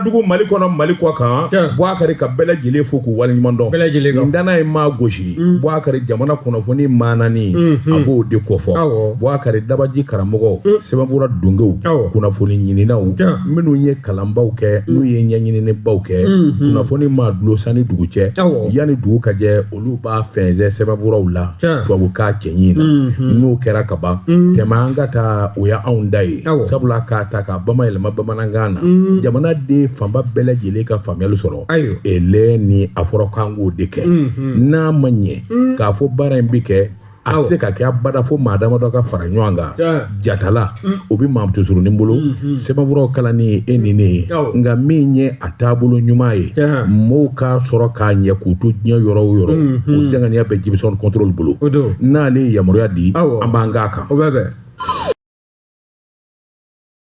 dugu mali kɔnɔ mali kɔ kan buakari ka bɛɛ lajɛlen fo k'u waleɲuman dɔn bɛɛ lajɛlen kan danna ye maa gosi mm. buakari jamana kunnafoni maanani mm-hmm. a b'o de kofɔ buakari dabaji karamɔgɔ mm. sɛbɛnfura dongew kunnafoni ɲininaw minnu ye kalanbaw kɛ mm. n'u ye ɲɛɲininibaw kɛ mm-hmm. kunnafoni maa dulosani dugu cɛ yanni dugu ka jɛ olu b'a fɛnsɛn sɛbɛnfuraw la tubabukan cɛɲi na mm-hmm. n'o kɛra ka ban mm-hmm. tɛmɛ an ka taa o y'anw da ye sabula k'a ta ka bamayɛlɛma bamanankan na mm-hmm. jamanaden fanba bɛɛ lajɛlen ka faamuyali sɔrɔ ele ni a fɔra k'an k'o de kɛ n'a ma ɲɛ k'a fɔ baara in bɛ kɛ a tɛ se ka kɛ abada fo maa damadɔ ka fara ɲɔgɔn kan jatala o bɛ maa musosurunin bolo sɛbɛnfuraw kalanni ye e ni ne ye nka min ye a taabolo ɲuman ye mɔɔw k'a sɔrɔ k'a ɲɛ k'u to diɲɛ yɔrɔ o yɔrɔ o danganiya bɛ jimisɔn kɔntɔrɔli bolo n'ale ye yamaruya di an b'an k'a kan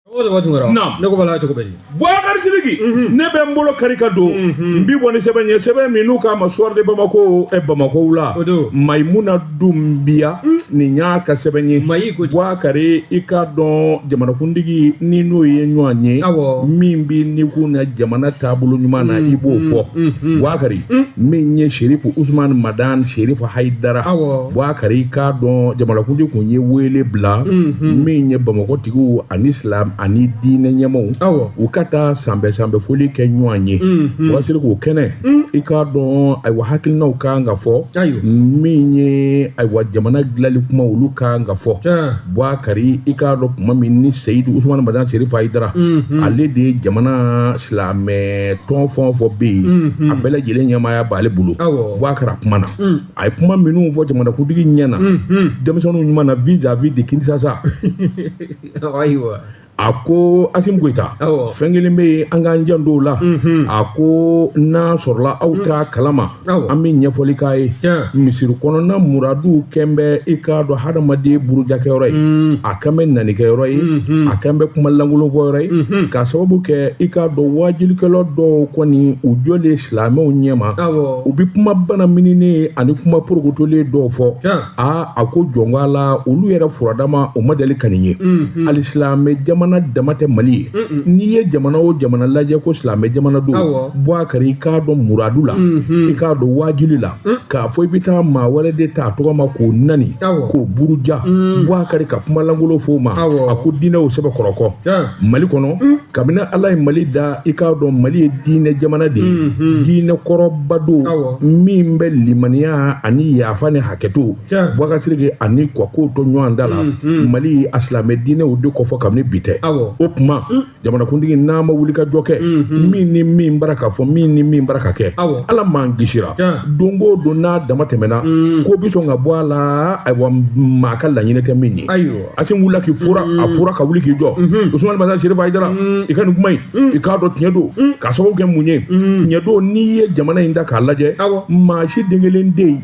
o de b'a tun kɛra Naam. ne ko b'a la cogo bɛ di buakari sidiki ne bɛ n bolo kari ka don n bi bɔ ni sɛbɛn ye sɛbɛn min n'u k'a ma soir de bamako ɛ bamakow la O don. mayimuna dunbiya nin y'a ka sɛbɛn ye Mayi ko di? bubakari i k'a dɔn jamanakuntigi n'i n'o ye ɲɔgɔn ye Awɔ. min b'i nikun na jamana taabolo ɲuman na i b'o fɔ mhm. buakari min ye serifu usumani madan serifu hayidara Awɔ. buakari i k'a dɔn jamanakuntigi kun ye wele bila min ye bamakɔ tigiw ani silam ani diinɛ ɲɛmaw u ka taa sanbɛ sanbɛ foli kɛ ɲɔgɔn ye mhm. wasiri k'o kɛnɛ mm. i k'a dɔn ayiwa hakilinaw ka kan ka fɔ min ye ayiwa jamana dilali kuma olu ka kan ka fɔ buakari i k'a dɔn kuma min ni seyidu usumani madan serifu hayidara mhm. ale de ye jamana silamɛ tɔn fɛn o fɛn bɛ yen mhm. a bɛɛ lajɛlen ɲɛmaaya b'ale bolo buakari a kumana mm. a ye kuma minnu fɔ jamanakuntigi ɲɛ na denmisɛnninw ɲuman na vis à vis de kinsasa ayiwa a ko asimi goyita Awɔ. fɛn kelen bɛ yen an k'an janto o la a ko n'a sɔrɔla aw t'a kalama Awɔ. an bɛ ɲɛfɔli k'a ye Tiɲɛ. misiri kɔnɔna muradu kɛn bɛ i k'a dɔn hadamaden burujakɛyɔrɔ ye a kɛn bɛ nanikɛyɔrɔ ye a kɛn bɛ kuma lankolon fɔyɔrɔ ye k'a sababu kɛ i k'a dɔn waajilikɛla dɔw kɔni u jɔlen silamɛw ɲɛma Awɔ. u bɛ kuma bana mininen ani kuma porokotolen dɔw fɔ aa a ko jɔnka la olu yɛrɛ furadama o ma deli ka nin ye hali silamɛ jamana dama tɛ mali ye n'i ye jamana o jamana lajɛ ko silamɛ jamana don buakari i k'a dɔn muradu la i k'a dɔn waajuli la k'a fɔ i bɛ taa maa wɛrɛ de ta a tɔgɔ ma k'o nani k'o buruja buakari ka kuma lankolon fɔ o ma a ko diinɛw sɛbɛkɔrɔ kɔ mali kɔnɔ kabini ala ye mali da i k'a dɔn mali ye diinɛ jamana de ye mhm. diinɛ kɔrɔba don min bɛ limaniya ani yafa ni hakɛto bwakari sidiki ani ka ko to ɲɔgɔn ta la mhm. mali a silamɛ diinɛw de kofɔ kabini bi tɛ o tuma mm. jamanakuntigi n'a ma wulikajɔ kɛ mhm. min ni min bara ka fɔ min ni min bara ka kɛ ala m'an kisira don o don n'a dama tɛmɛna mm. ko bi sɔn ka bɔ a la ayiwa maa ka laɲinɛ tɛ min ye asimi wulila k'i fura a fura ka wuli k'i jɔ usumani madani serifu ayidara i ka nin kuma in i k'a dɔn tiɲɛ don k'a sababu kɛ mun ye tiɲɛ don n'i ye jamana in da k'a lajɛ maa si den kelen tɛ yen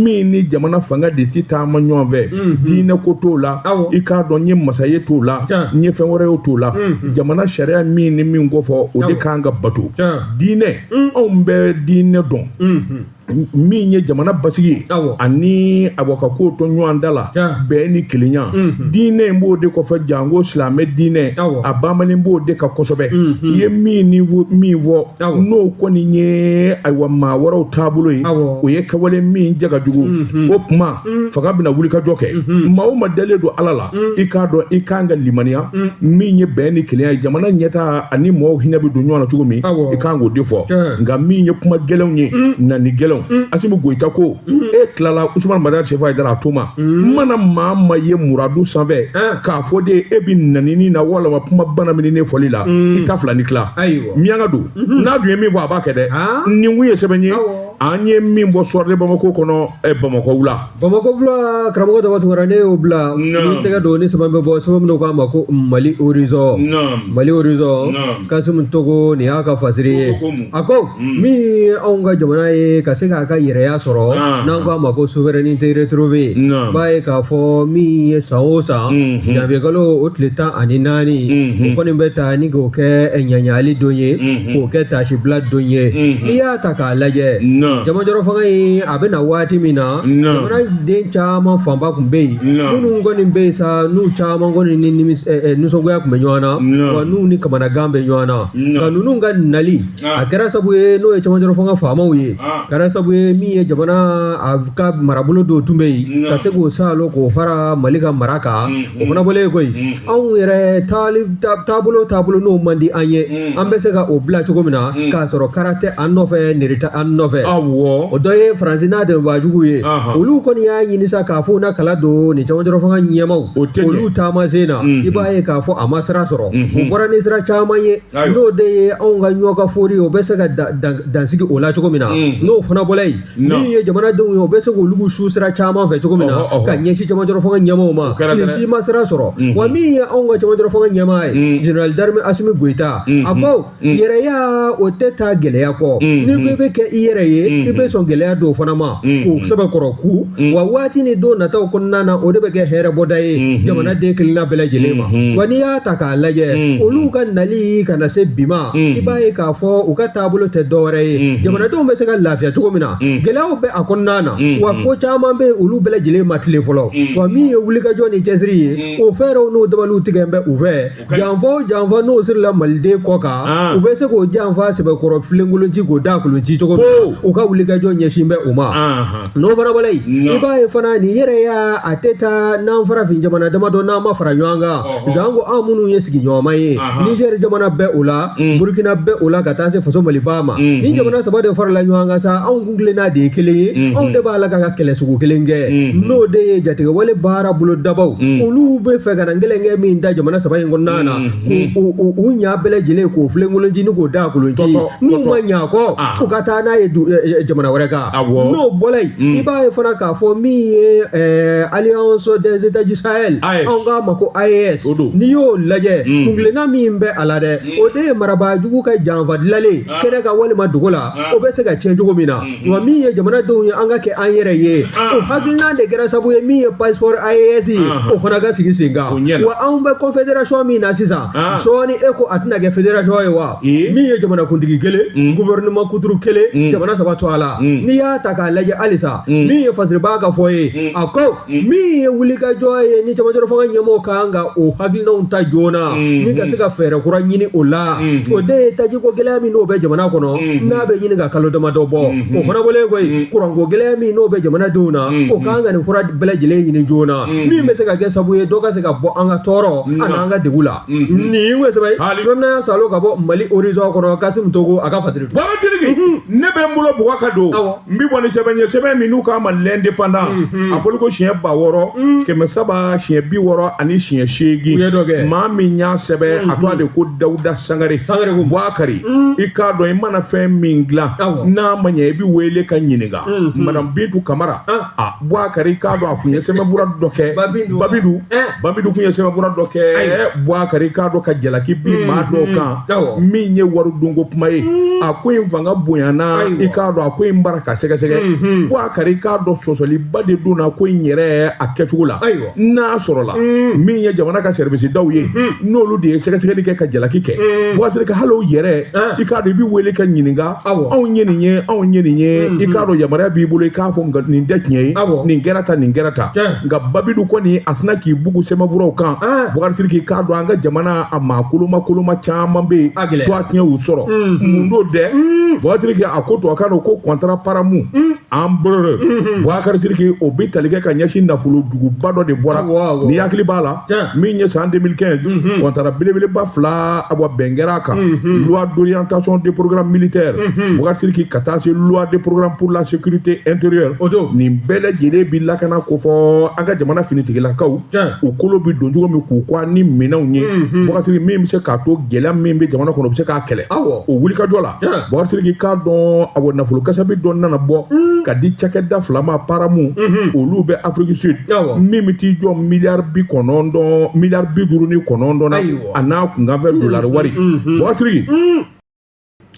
min ni jamana fanga de ti taama ɲɔgɔn fɛ diinɛ ko t'o la i k'a dɔn n ye masa ye t'o la n ye fɛn wɛrɛ ye t'o la jamana sariya min ni min kofɔ o de kan ka bato diinɛ anw bɛ diinɛ dɔn min ye jamana basigi ye ani ayiwa ka ko to ɲɔgɔn ta la bɛn ni kelenya mhm. diinɛ in b'o de kɔfɛ janko silamɛ diinɛ a banbanen b'o de kan kosɛbɛ mhm. i ye min ni min fɔ n'o kɔni ye ayiwa maa wɛrɛw taabolo ye o ye kɛwale min ja ka jugu mhm. o tuma Mm. fanga bɛna wulikajɔ kɛ mm-hmm. maa o maa dalen don ala la mm. i k'a dɔn i kan ka limaniya mm. min ye bɛn ni kelenya ye jamana ɲɛtaa ani mɔgɔw hinɛ bɛ don ɲɔgɔn na cogo min i kan k'o de fɔ nka min ye kuma gɛlɛnw ye nani gɛlɛnw asimi goyita ko e tilala usumani madani serifu ayidara a to ma mana maa ma ye muradu sanfɛ k'a fɔ de e bɛ nanini na walama kuma bana min ne fɔli la i t'a filɛ ni tila miyanka don mm-hmm. n'a dun ye min fɔ a b'a kɛ dɛ ah. nin kun ye sɛbɛn ye an ye min bɔ soir de bamako kɔnɔ ɛ bamakɔ wula bamakɔ wula karamɔgɔ dama tunkara ne y'o bila n tɛgɛ don ni sɛbɛn bɛ bɔ sɛbɛn min u k'a ma ko mali horizon mali horizon kasimu togo nin y'a ka fasiri ye a ko mm. min ye anw ka jamana ye ka se k'a ka yɛrɛya sɔrɔ ah. n'an k'a ma ko souveraineté retrouvée b'a ye k'a fɔ min ye san o san mm-hmm. janvier kalo o tile tan ani naani mm-hmm. o kɔni bɛ ta ni k'o kɛ ɲaɲali don ye mm. k'o kɛ taasibila don ye n'i y'a ta k'a lajɛ camancɛrɔ fanga in a bɛ na waati min na jamanaden caman fanba tun bɛ yen minnu kɔni bɛ yen sa n'u caman kɔni ni nisɔngoya tun bɛ ɲɔgɔn na wa n'u ni kamanagan bɛ ɲɔgɔn na nka ninnu ka nali a kɛra sabu ye n'o ye camancɛrɔ fanga faamaw ye kɛra sabu ye min ye jamana a ka marabolo dɔw tun bɛ yen ka se k'o salo k'o fara mali ka mara kan o fana bɔlen kɔ yen anw yɛrɛ taabolo taabolo n'o man di an ye mm. an bɛ se ka o bila cogo min na mm. k'a sɔrɔ kara tɛ an nɔfɛ nɛri tɛ an nɔfɛ o dɔ ye faransi n'a dɛmɛbaa jugu ye olu kɔni y'a ɲini sa k'a fɔ u na kala don nin camancɛrɔ fanga ɲɛmaw olu taamasen na mm-hmm. i b'a ye k'a fɔ a ma sira sɔrɔ u mm-hmm. bɔra ni sira caman ye n'o de ye anw ka ɲɔgɔn ka fori o bɛ se ka dansigi o la cogo min na mm. n'o fana bɔla yen Non. min ye jamanadenw ye o bɛ se k'olu su sira caman fɛ cogo min na Ɔhɔ, ɔhɔ. ka ɲɛsin cɛmancɛrɔ fanga ɲɛmaaw ma kɛra nin dɛ. si ma sira sɔrɔ Mhm. wa min ye anw ka cɛmancɛrɔ fanga ɲɛmaa ye Mhm. général d'armée asimi goyita a Mhm. ko Mhm. yɛrɛya o tɛ taa gɛlɛya kɔ Mhm. n'i ko i bɛ kɛ i yɛrɛ ye i Mhm. bɛ sɔn gɛlɛya dɔw fana ma Mhm. k'u sɛbɛkɔrɔ kun Mhm. wa waati ni don nataw kɔnɔna na o de bɛ kɛ hɛrɛ bɔda ye Mhm. jamanaden kelenna bɛɛ lajɛlen ma Mhm. wa n'i y'a ta k'a lajɛ Mhm. olu ka nali ka na se bi ma Mhm. i b'a ye k'a fɔ u ka taabolo tɛ dɔwɛrɛ ye mm-hmm. jamanadenw bɛ se ka lafiya cogo min na mm-hmm. gɛlɛyaw bɛ a kɔnɔna na mm-hmm. wa ko caman bɛ olu bɛɛ lajɛlen ma tilen fɔlɔ wa min ye wulikajɔ ni cɛsiri ye o fɛɛrɛw n'o dabaliw tigɛ bɛ u fɛ janfa o janfa n'o sirila maliden kɔ kan ah. u bɛ se k'o janfa sɛbɛkɔrɔ filenkolonci k'o daakolonci cogo min u ka wulikajɔ ɲɛsin bɛ o ma ah, ah. n'o fana bɔla yen i b'a ye fana nin yɛrɛya a tɛ taa n'an farafin jamana damadɔ n'an ma fara ɲɔgɔn kan sanko an minnu ye sigiɲɔgɔnma ye nizɛri jamana bɛ o la burukina bɛ o la ka taa se faso maliba ma nin jamana saba de farala ɲɔgɔn kan sa anw kuntilenna de ye kelen ye anw de b'a la k'an ka kɛlɛ sugu kelen kɛ n'o de ye jatigɛwale baara bolodabaaw olu bɛ fɛ ka na gɛrɛntɛ min da jamana saba in kɔnɔna na k'u u ɲa bɛɛ lajɛlen k'o filenkolonci ni k'o daakolonci n'u ma ɲa kɔ u ka taa n'a ye jamana wɛrɛ kan awɔ n'o bɔla yen Mm. i b'a ye fana k'a fɔ min ye ɛɛ alliance des états du sahel AES. anw k'a ma ko AES O don. n'i y'o lajɛ Mm. kuntilenna min bɛ a la dɛ o de ye marabaa jugu ka janfa dilalen Ah. kɛnɛ kan walima dogo la Ah. o bɛ se ka tiɲɛ cogo min na Mhm. wa min ye jamanadenw ye an ka kɛ an yɛrɛ ye Ah. o hakilina de kɛra sabu ye min ye passeport AES ye Aha. o fana ka sigi sen kan O ɲɛ la. wa anw bɛ confédération min na sisan sɔɔni e ko a tɛna kɛ fédération ye wa min ye jamanakuntigi kelen gouvernement kuturu kelen jamana saba tɔgɔ la n'i y'a ta k'a lajɛ halisa min ye fasiribaa ka fɔ ye a ko min ye wulikajɔ ye ni cɛmancɛrɔ fanga ɲɛmɔgɔw ka kan ka o hakilinaw ta joona ni ka se ka fɛɛrɛ kura ɲini o la o de ye tajiko gɛlɛya min n'o bɛ jamana kɔnɔ n'a bɛ ɲini ka kalo damadɔ bɔ o fana bɔlen kɔ yen kuranko gɛlɛya min n'o bɛ jamanadenw na u ka kan ka nin fura bɛɛ lajɛlen ɲini joona Mm. min bɛ se ka kɛ sabu ye dɔ ka se ka bɔ an ka tɔɔrɔ mm. ani an ka degun la mm-hmm. nin ye sɛbɛn sabanan ye salo ka bɔ mali horizon kɔnɔ kasimu togo a ka fasiri don babatiriki mm-hmm. ne bɛ n bolo bugɔ ka don n bɛ bɔ ni sɛbɛn ye sɛbɛn min n'u k'a ma l'indépendant mm-hmm. a bɔliko siɲɛ ba wɔɔrɔ mm. kɛmɛ saba siɲɛ bi wɔɔrɔ ani siɲɛ seegin maa min y'a sɛbɛn a tɔgɔ de ko dawuda sangare sangare ko buakari i k'a dɔn i mana fɛn min dilan n'a ma ɲɛ i bɛ wele ka ɲininka madame bintu kamara ah. a buakari i k'a dɔn a kun ye sɛbɛnfura dɔ kɛ babidu babidu eh. kun ye sɛbɛnfura dɔ kɛ buakari i k'a dɔn ka jalaki bin hmm, maa dɔw hmm. kan min ye waridunko kuma ye hmm. a ko in fanga bonyana i k'a dɔn a ko in bara ka sɛgɛsɛgɛ buakari i k'a dɔn sɔsɔliba de donna ko in yɛrɛ a kɛcogo la n'a sɔrɔla min ye jamana ka service daw ye n'olu de ye sɛgɛsɛgɛli kɛ ka jalaki kɛ bubakari sidiki hali o yɛrɛ i k'a dɔn i bɛ wele ka ɲininka anw ye nin ye anw ye nin ye i k'a dɔn yamaruya b'i bolo i k'a fɔ nin tɛ tiɲɛ ye nin kɛra tan nin kɛra tan nka babi dun kɔni a sinna k'i bugu sɛbɛnfuraw kan bubakari sidiki k'a dɔn an ka jamana a maa koloma koloma caman bɛ yen tɔgɔtiɲɛ y'u sɔrɔ mun don dɛ bubakari sidiki a ko to a k'a dɔn ko kɔntara paramu Embraer mhm. Bouakar Sidiki o bɛ tali kɛ ka ɲɛsin nafolo juguba dɔ de bɔra n'i hakili b'a la min ye san 2015 mhm. kɔntara belebeleba fila awa bɛn kɛra a kan mhm. loi d'orientation de programme militaire Bouakar Sidiki ka taa se loi de programme pour la sécurité intérieure o don nin bɛɛ lajɛlen bi lakana kofɔ an ka jamana finitigilakaw u kolo bi don cogo min k'u kɔ ni minɛnw ye Bouakar Sidiki min bɛ se k'a to gɛlɛya min bɛ jamana kɔnɔ u bɛ se k'a kɛlɛ o wulikajɔ la bubakari sidiki k'a dɔn a nafolo kasabi dɔ nana bɔ mm. ka di cakɛda fila ma paramu mm-hmm. olu bɛ afiriki sud min bɛ t'i jɔ miliyari bi kɔnɔntɔn miliyari bi duuru ni kɔnɔntɔn na a n'a kunkanfɛn mm-hmm. dolari wari mm-hmm. bubakari sidiki mm.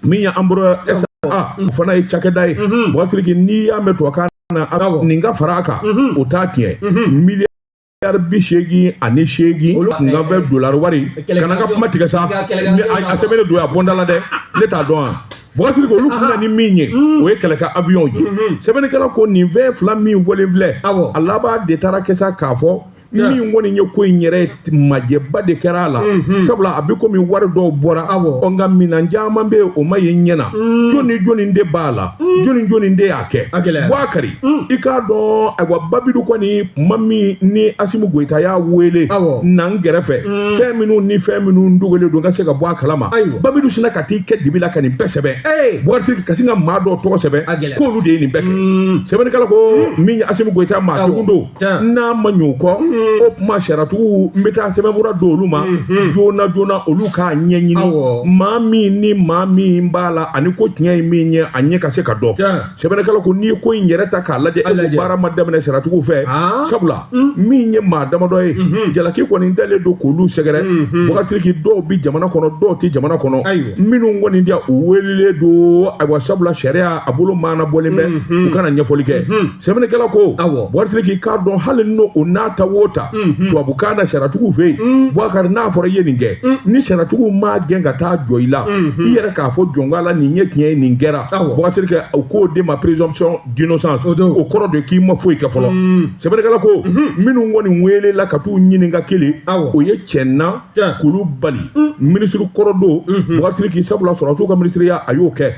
min ye Embraer SA, o fana ye cakɛda ye bubakari sidiki n'i y'a mɛn tubabukan na nin ka fara a kan o t'a tiɲɛ miliyari miliyari bi seegin ani seegin Olu- kunkanfɛn dolari wari Kɛlɛ- kana i ka kuma tigɛ sa Kɛlɛ- kɛlɛ- Ne- a- a sɛbɛnnen don a bɔnda la dɛ ne t'a dɔn a bubakari sidiki olu kun na ni min ye o ye kɛlɛkɛ avion ye sɛbɛnnikɛla ko nin fɛn fila min fɔlen filɛ Awɔ. a laban de taara kɛ sa k'a fɔ Ja. min kɔni ye ko in yɛrɛ majɛba de kɛra a la sabula a bɛ komi wari dɔw bɔra Awɔ. ɔ nka minan caman bɛ yen o ma ye ɲɛ na jɔni jɔni de b'a la jɔni jɔni de y'a kɛ a gɛlɛyara. Bouakari Mm. i k'a dɔn ayiwa babi dun kɔni kuma min ni asimu goyita y'a wele Awɔ. na n gɛrɛfɛ Mm. fɛn minnu ni fɛn minnu dogolen don ka se ka bɔ a kalama Ayiwa. babi dun sinna ka t'i kɛ dibi la ka nin bɛɛ sɛbɛn Ee. bouakari ka sin ka maa dɔw tɔgɔ sɛbɛn A gɛlɛyara. k'olu de ye nin bɛɛ kɛ Mm. sɛbɛnnikɛla ko min ye asimu goyita maa Awɔ. degun don n'a ma ɲɛ o kɔ mm. o kuma sariyatigiw n bɛ taa sɛbɛnfura di olu ma mm-hmm. joona joona olu k'a ɲɛɲini maa min ni maa min b'a la ani ko tiɲɛ ye min ye a ɲɛ ka se ka dɔn sɛbɛnnikɛla ko n'i ye ko in yɛrɛ ta k'a lajɛ e ko baara ma daminɛ sariyatigiw fɛ ah. sabula mm. min ye maa damadɔ ye mm-hmm. jalaki kɔni dalen don k'olu sɛgɛrɛ mm-hmm. bubakari sidiki dɔw bɛ jamana kɔnɔ dɔw tɛ jamana kɔnɔ minnu kɔni bi yan u welelen don ayiwa sabula sariya a bolo maana bɔlen bɛ u ka na ɲɛfɔli kɛ sɛbɛnnikɛla ko awɔ bubakari sidiki k'a dɔn hali n'o o n'a ta o ta mhm. tubabukan na sariyatigiw fɛ yen mm. bubakari n'a fɔra i ye nin kɛ mm. ni sariyatigiw m'a gɛn ka taa jɔ i la mhm. i yɛrɛ k'a fɔ jɔnka la nin ye tiɲɛ ye nin kɛra bubakari sidiki u k'o de ma présomption d'innocence o kɔrɔ de k'i ma foyi kɛ fɔlɔ mm. sɛbɛnnikɛla ko mhm. minnu kɔni welela ka t'u ɲininka kelen o ye cɛna kulubali minisiri kɔrɔ don bubakari sidiki sabula sɔrɔdasiw ka minisiriya a y'o kɛ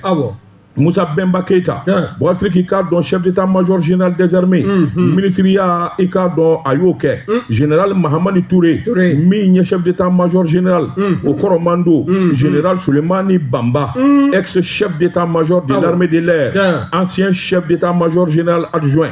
Musa Bɛnba Keyita bɔsiriki k'a dɔn chef d'état major général des armées mhm. minisiriya i k'a dɔn a y'o kɛ mhm. général Mahamani Ture min ye chef d'état major général mhm. o kɔrɔman don général Sulemani Banba ex chef d'état major de ah l'armée de l'air ancien chef d'état major général adjoint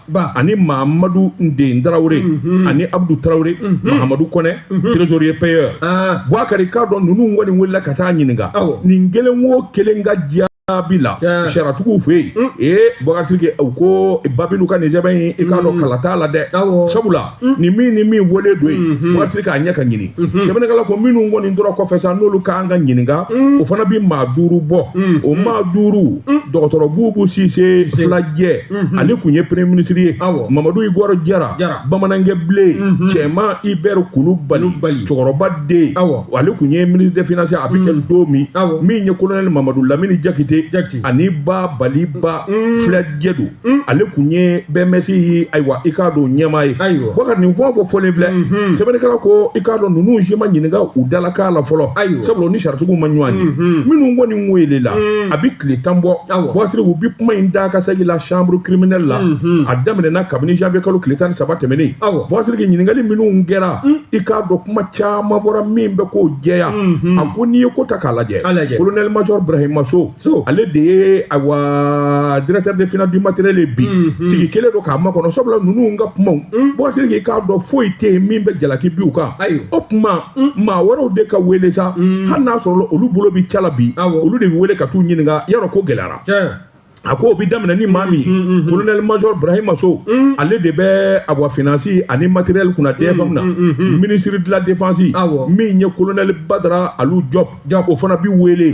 ba ani mahamadu nden tarawele mhm. ani abudu tarawele mhm. mahamadu kɔnɛ mhm. trésorier payeur ah. buakari k'a dɔn ninnu kɔni welela ka taa ɲininka nin kelen o kelen ka jaabi la sariyatigiw fɛ yen ee bakari sidiki u ko babilu ka nin sɛbɛn in i k'a dɔn kala t'a la dɛ sabula ni min ni min wele don yen mhm. bɔsiriki k'a ɲɛ ka ɲini mhm. sɛbɛnnikɛla ko minnu kɔni tora kɔfɛ sa n'olu ka kan ka ɲininka mhm. o fana bɛ maa duuru bɔ o maa duuru dɔgɔtɔrɔ bubu sise filajɛ ale kun ye premier ministre ye mamadu igɔrɔ jara bamanankɛ bilen cɛman ibɛri kulubali cɛkɔrɔba den ale kun ye ministre des finances a bɛ kɛ don min min ye kolonɛli mamadu lamini jakite ani babali ba filajɛ don Mm. ale kun ye BMS ayiwa i k'a dɔn ɲɛmaa ye ayiwa buakari nin fɛn o fɛn fɔlen filɛ mm-hmm. sɛbɛnnikɛla ko i k'a dɔn ninnu si ma ɲininka u dalakan la fɔlɔ ayiwa sabula u ni sariyatigiw ma ɲɔgɔn ye mm-hmm. minnu kɔni welela mm. a bɛ tile tan bɔ bɔsiriki u bɛ kuma in da ka segin la chambre criminelle la mm-hmm. a daminɛna kabini janvier kalo tile tan ni saba tɛmɛnen ayiwa bɔsiriki ɲininkali minnu kɛra mm. i k'a dɔn kuma caman fɔra min bɛ k'o jɛya a ko n'i ye ko ta k'a lajɛ colonel major brahima so so ale de ye awa directeur des finances du matériel ye bi sigi kɛlen don k'a makɔnɔ sabula ninnu ka kumaw bɔsiriki k'a dɔn foyi tɛ yen min bɛ jalaki bin u kan Ayiwa. o kuma maa wɛrɛw de ka wele sa hali n'a sɔrɔ olu bolo bɛ ca la bi Awɔ. olu de bɛ wele ka t'u ɲininka yarɔ ko gɛlɛyara tiɲɛ a ko o bɛ daminɛ ni maa min ye colonel major burahima sow ale de bɛ awa finance ani matériel kunna dfm na minisiri de la défense Awɔ. min ye colonel badara alu job Ja o fana bɛ wele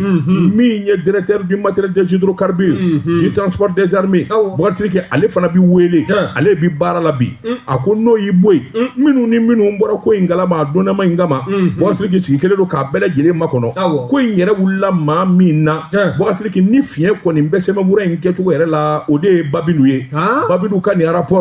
min ye directeur du matériel des hydrocarbures du transport des armées bɔsiriki ale fana bɛ wele ale bɛ baara la bi a ko n'o y'i bɔ yen minnu ni minnu bɔra ko in kalama a dɔnnama in kama bɔsiriki sigi kɛlen don k'a bɛɛ lajɛlen makɔnɔ ko in yɛrɛ wulila maa min na bɔsiriki ni fiɲɛ kɔni bɛ sɛbɛnfura in kɛcogo yɛrɛ la o de ye babilu ye babilu ka nin arapɔ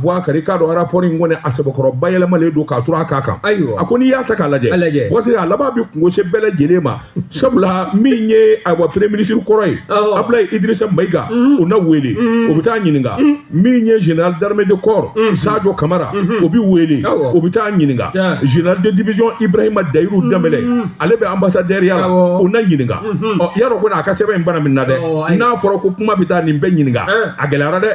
buakari k'a dɔn arapɔri in kɔni a sɛbɛkɔrɔ bayɛlɛmalen don k'a turu a kan kan ayiwa a ko n'i y'a ta k'a lajɛ buakari a laban bɛ kunko se bɛɛ lajɛlen ma sabula min ye ayiwa premier ministre kɔrɔ ye abulayi idirisa mayiga o na wele o bɛ taa ɲininka min ye général d'armée de corps sajo kamara o bɛ wele o bɛ taa ɲininka général de division ibrahima dayiru danbɛlɛ ale bɛ ambassadeur ya la o na ɲininka ɔ yarɔ ko n'a ka sɛbɛn in bana min na dɛ n'a fɔra ko kuma bɛ taa nin bɛɛ ɲininka a gɛlɛyara dɛ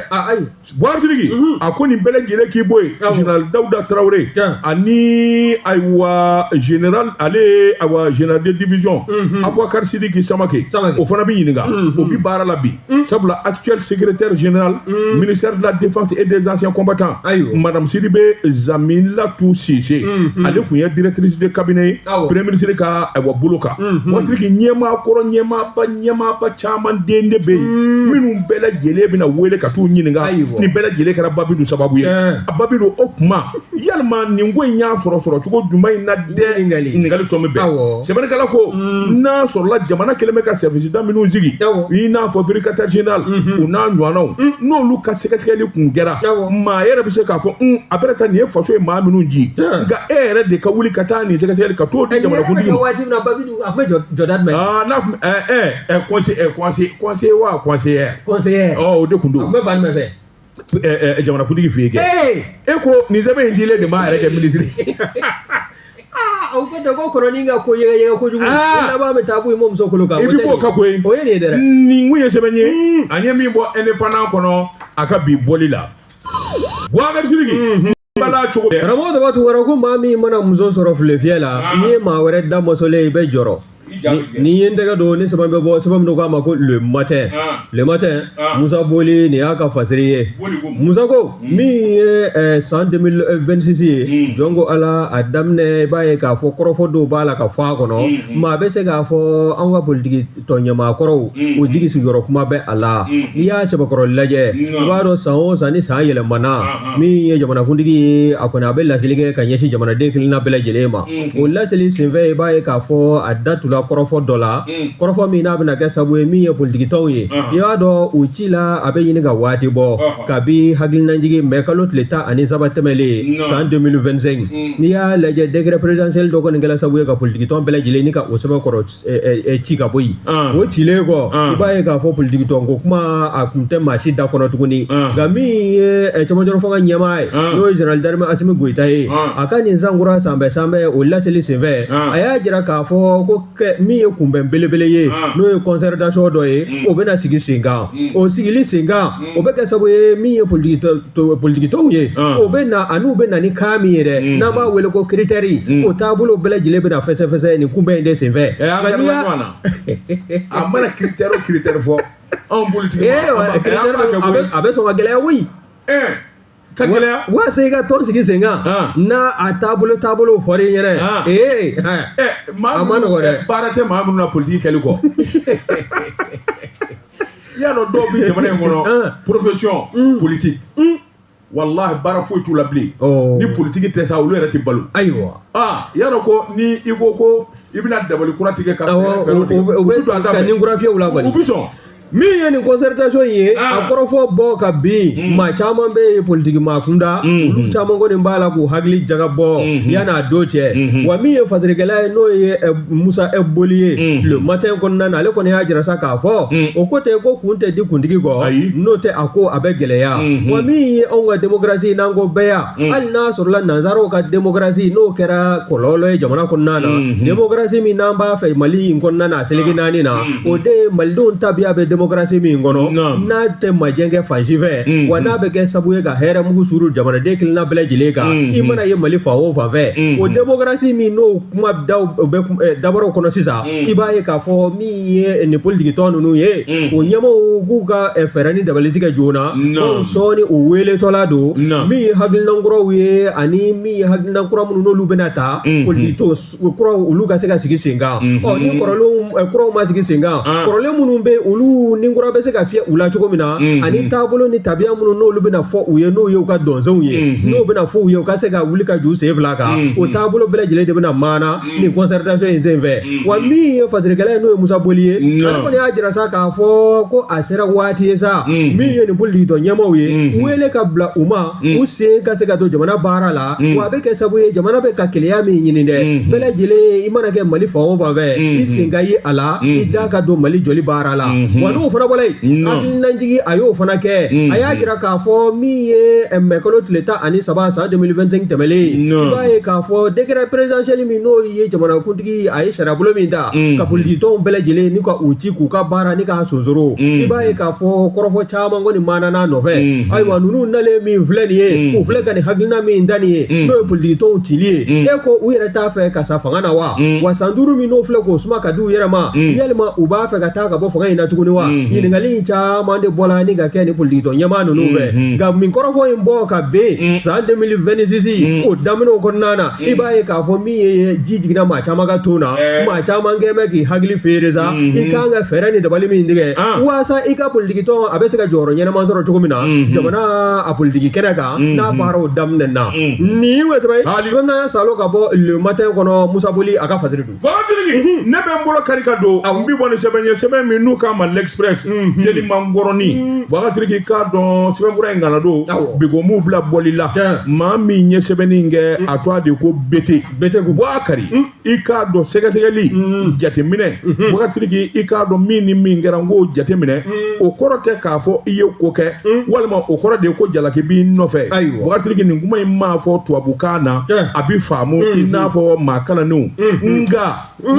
Boubacar Sidiki mhm. a ko nin bɛɛ lajɛlen k'i bɔ yen général Dawuda Tarawele ani ayiwa général ale ayiwa général de division mhm. Abubakari Sidiki Samake o fana bɛ ɲininka mhm. o bi baara la bi sabula actuel secrétaire général ministère de la défense et des anciens combattants madame Sidibe Zamilatu Sise ale kun ye directrice de cabinet ye premier ministre ka ayiwa bolo kan Boubacar Sidiki ɲɛmaa kɔrɔ ɲɛmaaba ɲɛmaaba caman den de bɛ yen hmm. minnu bɛɛ lajɛlen bɛna wele ka t'u ɲininka nin bɛɛ lajɛlen kɛra Ba Bintu sababu ye a Ba Bintu o kuma yalima nin ko in y'a sɔrɔ sɔrɔ cogo jumɛn in na dɛ ɲininkali tɔn bɛ bɛn sɛbɛnnikɛla ko hmm. n'a sɔrɔla jamana kɛlen bɛ ka sɛriwisida minnu sigi i n'a fɔ vérificateur général hmm. u n'a ɲɔgɔnnaw n'olu ka sɛgɛsɛgɛli kun kɛra maa yɛrɛ bɛ se k'a fɔ a bɛna taa nin ye faso ye maa minnu ji nka e yɛrɛ de ka wuli ka taa nin sɛgɛsɛgɛli ka t'o di jamanakuntigi ma jɔda jumɛn. aa n'a kun ɛ ɛ ɛ conseiller wa conseillère. conseillère. ɔ o de kun don. tun bɛ fan jumɛn fɛ. ɛ ɛ jamanakuntigi fɛ yen kɛ. e ko nin sɛbɛn in dilen de m'a yɛrɛ kɛ minisiri. aa o ko tɛ ko kɔrɔ n'i ka ko yɛgɛyɛgɛ kojugu. aa laban bɛ taa bɔ i mɔmuso kolo kan. i bɛ b'o kan koyi. o ye nin ye dɛ. nin kun ye sɛbɛn ye. an ye min bɔ indépendant kɔnɔ a ka bi bɔli la. Boubacar Sidiki bala cogo bɛɛ karamɔgɔ dɔ b'a to wɛrɛ ko maa min mana muso sɔrɔ filefiyɛ la ah. n'i ye maa wɛrɛ da mɔsɔlen ye i bɛ jɔrɔ ne ye n tɛgɛ don nin sɛbɛn bɛ bɔ sɛbɛn min don k'a ma ko le matin ah. le matin ah. Musa Boli nin y'a ka fasiri ye Musa ko hmm. min ye eh, san 2026 ye hmm. jɔn ko Ala a daminɛ i b'a ye k'a fɔ kɔrɔfɔ dɔw b'a la ka fɔ a kɔnɔ hmm, maa bɛ se k'a fɔ an ka politiki tɔn ɲɛmaakɔrɔw o jigi sigiyɔrɔ kuma bɛ a la n'i y'a sɛbɛkɔrɔ lajɛ i b'a dɔn san o san ni san yɛlɛmana min ye jamanakuntigi ye a kɔni a bɛ laseli kɛ ka ɲɛsin jamanaden kelenna bɛɛ lajɛlen ma o laseli senfɛ i b'a ye k'a fɔ a da tula kɔrɔfɔ dɔ la kɔrɔfɔ min n'a bɛna kɛ sabu ye min ye politikitɔnw ye i b'a dɔn u cila a bɛ ɲini ka waati bɔ kabi hakilinajigi mɛ kalo tile tan ani saba tɛmɛlen san 2025 n'i y'a lajɛ décret présidentiel dɔ kɔni kɛla sabu ye ka politikitɔn bɛɛ lajɛlen ni ka o sɛbɛkɔrɔ ci ka bɔ yen o cilen kɔ i b'a ye k'a fɔ politikitɔn ko kuma a kun tɛ maa si da kɔnɔ tuguni nka min ye cɛmancɛ fanga ɲɛmaa ye n'o ye jenerali darime Asimi Goyita ye a ka nin sankura sanbɛ sanbɛ o laseli senfɛ a y'a jira k'a fɔ ko min ye kunbɛn belebele ye n'o ye kɔnsɛritasiyɔn dɔ ye o bɛna sigi senkan o sigili senkan o bɛ kɛ sabu ye min ye politiki tɔ- tɔ- politikitɔnw ye Ah. o bɛ na an'u bɛ na ni kan min ye dɛ Mm. n'an b'a wele ko kiritɛri Mm. o taabolo bɛɛ lajɛlen bɛna fɛsɛfɛsɛ nin kunbɛn in de senfɛ ɛ an Nka n'i kɛra y'a- ɲɔgɔn na a mana kiritɛri o kiritɛri fɔ anw politiki Ee, wa, kiritɛri bɛ- a bɛ- a bɛ sɔn ka gɛlɛya koyi ɛɛ ka gɛlɛya waasa i ka tɔn sigi sen kan Ah. n'a a taabolo taabolo fɔra i ɲɛna Ah. ee ɛ, ɛ a ma nɔgɔ dɛ. ɛ, baara tɛ maa minnu na politiki kɛli kɔ i y'a dɔn dɔw bɛ jamana in kɔnɔ Ah. profession politique walahi baara foyi t'u la bilen Ɔ. ni politiki tɛ sa olu yɛrɛ tɛ balo ayiwa ah i y'a dɔn ko ni i ko ko i bɛna dabali kura tigɛ ka awɔ fɛɛrɛ- fɛɛrɛw o- tigɛ, o- o u bɛ bɛ don a da ka fɛ. ni kura fiyɛ u la kɔni u bɛ sɔn min ye nin concertation in ye a kɔrɔfɔ bɔ ka bin maa caman bɛ ye politiki maa kunda olu caman kɔni b'a la k'u hakili jagabɔ yan'a don cɛ wa min ye fasirikɛla ye n'o ye musa boli ye le matin kɔnɔna na ale kɔni y'a jira sa k'a fɔ o ko tɛ ko kun tɛ di kuntigi kɔ n'o tɛ a ko a bɛ gɛlɛya wa min ye anw ka démocratie n'an ko bɛɛ ya Mm. hali n'a sɔrɔla nanzaraw ka demokarasi n'o kɛra kɔlɔlɔ ye jamana kɔnɔna na mm-hmm. demokarasi min n'an b'a fɛ mali in kɔnɔna na a seleke mm. naani na mm-hmm. o de ye malidenw tabiya bɛ demokarasi min kɔnɔ n'a tɛ majɛ kɛ fan si fɛ mm-hmm. wa n'a bɛ kɛ sabu ye ka hɛrɛ mugu suuru jamanaden kelenna bɛɛ lajɛlen kan i mana ye mali fan o fan fɛ o demokarasi min n'o kuma daw bɛ eh, dabɔrɔw kɔnɔ sisan i b'a ye k'a fɔ min ye nin politikitɔn ninnu ye o ɲɛmaaw k'u ka fɛɛrɛ ni dabali tigɛ joona ko sɔɔni u weletɔla don min ye hakilina kuraw ye ani min ye hakilina kura minnu n'olu bɛna ta politikitɔn kuraw olu ka se ka sigi sen kan ɔ ni kɔrɔlen kuraw ma sigi sen kan kɔrɔlen minnu bɛ olu ni kura bɛ se ka fiyɛ u la cogo min na ani taabolo ni tabiya minnu n'olu bɛna fɔ u ye n'o ye u ka donsenw ye n'o bɛna fɔ u ye u ka se ka wuli ka j'u sen fila kan o taabolo bɛɛ lajɛlen de bɛna maana mm. nin concertation in sen fɛ mm-hmm. wa min ye fasirikɛla ye n'o ye musa boli ye ale kɔni y'a jira sa k'a fɔ ko a sera waati ye sa mm-hmm. min ye nin politiki tɔn ɲɛmaaw ye mm-hmm. wele ka bila u ma u sen ka se ka don jamana baara la wa a bɛ kɛ sabu ye jamana bɛ ka kelenya min ɲini dɛ bɛɛ lajɛlen i mana kɛ mali fan o fan fɛ i sen ka ye a la i da ka don mali jɔli baara la wa n'o fana bɔra yen hakililajigi a y'o fana kɛ a y'a jira k'a fɔ min ye eh, mɛkalo tile tan ani saba 2025 tɛmɛlen i b'a ye k'a fɔ décret présidentiel min n'o ye jamanakuntigi a ye sariyabolo min ta mm. ka politikitɔnw bɛɛ lajɛlen ni ka u ci k'u ka baara ni k'a sonsoro mm. i b'a ye k'a fɔ kɔrɔfɔ caman kɔni maanan'a nɔfɛ mm-hmm. ayiwa ninnu nalen min filɛ nin ye mm. u filɛ ka nin hakilina min da nin ye n'o ye politikitɔnw cili ye e ko u yɛrɛ t'a fɛ ka sa fanga na wa Mm. wa san duuru min n'o filɛ k'o suma ka di u yɛrɛ ma Mm. yalima u b'a fɛ ka taa ka bɔ fanga in na tuguni wa Mhm. ɲininkali in caman de bɔla ni ka kɛ ni politikitɔn ɲɛmaa ninnu fɛ Mhm. nka min kɔrɔfɔ in bɔ ka Mm. ben san 2026 Mm. o daminɛw kɔnɔna na i b'a ye k'a fɔ min ye ji jiginna maa caman ka ton na Eh. maa caman kɛ bɛ k'i hakili feere sa Mhm. i kan ka fɛɛrɛ ni dabali min tigɛ Ah. waasa i ka politikitɔn a bɛ se ka jɔyɔrɔ ɲɛnama sɔrɔ cogo min na Mhm. jamana a politiki kɛnɛ kan Mm-hmm. n'a baaraw daminɛ na mm-hmm. nin wese ye bamanan salo ka bɔ le matin kɔnɔ musa boli a ka fasiri don mm-hmm. ne bɛ n bolo kari ka don n bi bɔ ni sɛbɛn ye sɛbɛn min n'u k'a ma l'express teliman ngɔrɔni bagasiriki k'a dɔn sɛbɛnfura in kana don bigomuw bila bɔli la maa min ye sɛbɛnni in kɛ a tɔgɔ de ko bete bete ko bɔ a kari i k'a dɔn sɛgɛsɛgɛli jateminɛ wagasiriki i k'a dɔn min ni min kɛra n k'o jateminɛ o kɔrɔ tɛ k'a fɔ i ye ko kɛ walima o kɔrɔ de ye ko jalaki b'i nɔfɛ Ayiwa. wagasiriki nin kuma in mana fɔ tubabukan na Tiɲɛ. a bi faamu i n'a fɔ maa kalannenw nka